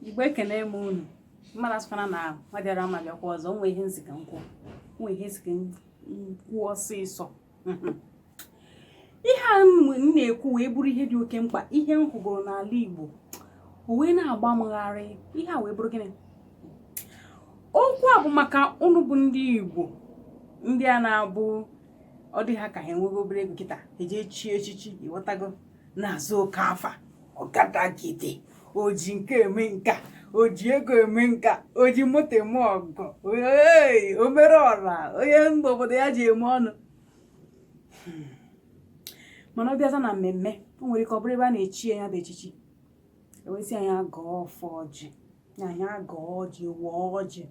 igbo ekene m unu mmadụ asụkwana na nwa bịara ama bịakwa ọzọ nwe ihe m sị ka m kwuo nwe ihe m sị ka m kwuo ọsịsọ ihe a m na-ekwu wee bụrụ ihe dị oke mkpa ihe m hụgoro n'ala igbo o wee na-agba m gharị ihe a wee bụrụ gịnị okwu a bụ maka unu bụ ndị igbo ndị a na-abụ ọ dị ha ka ha enwego obere ego kịta e jee chie echichi ịghọtago na-aza oke afa ọgadagide oji nka eme nka oji ego eme nka oji moto eme ọgọ o mere ọra onye mba obodo ya ji eme ọnụ hmm. mana ọ bịaza na mmemme o nwere ike ọ bụrụ ebe a na-echi ya bụ echichi e wee sị nya gọọ ọfọ ọjị nya gọọ ọjị waa ọjị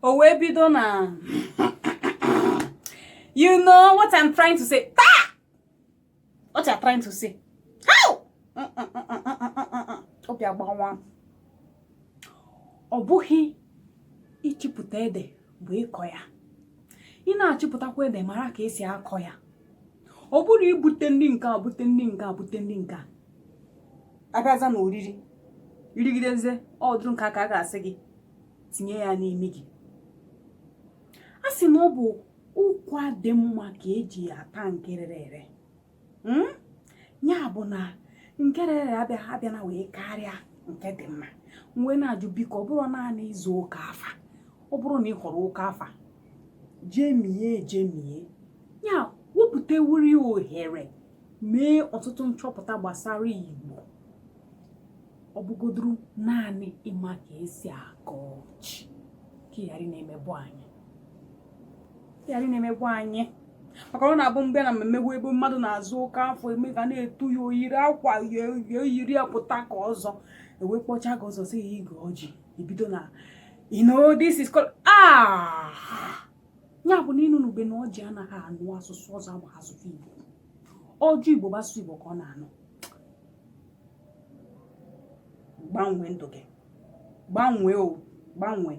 o wee bido na you know what I'm trying to say taa what you're trying to say how obi agbawa ọ bụghị ịchịpụta ede bụ ịkọ ya ị na-achịpụtakwa ede mara ka esi akọ ya ọ bụrụ ibute ndị nke a bute ndị nke a bute ndị nke a abịaza na oriri i rigidezie ọ dụrụ nke a ka a ga-asị gị tinye ya n'imi gị a sị na ọ bụ ụkwa dị mma ka eji ata nke rere ere hmm? ya bụ na nke rere ere abịana wee karịa nke dị mma m wee na-ajụ biko ọ bụrụ naanị ịza oke afa ọ bụrụ na ị họrọ oke afa jemie jemie ya wepụtawuri ohere mee ọtụtụ nchọpụta gbasara Igbo ọ bụgodoro naanị ịma ka esi agọ ọjị ka ị ghara na-emebọ anyị ị ghara na-emebọ anyị maka ọ na-abụ m bịa na mmemme ebe mmadụ na-aza oke afa eme ga na-etu ya oyiri akwa ya oyiri ya pụta ka ọzọ e wee kpọcha gị ọzọ sị gị gọọ ọjị i bido na you know this is called ah ya bụ na ị nụnube na ọjị anaghị anụ asụsụ ọzọ abụghị asụsụ Igbo ọjị Igbo bụ asụsụ Igbo ka ọ na-anụ gbanwee ndụ gị gbanwee o gbanwee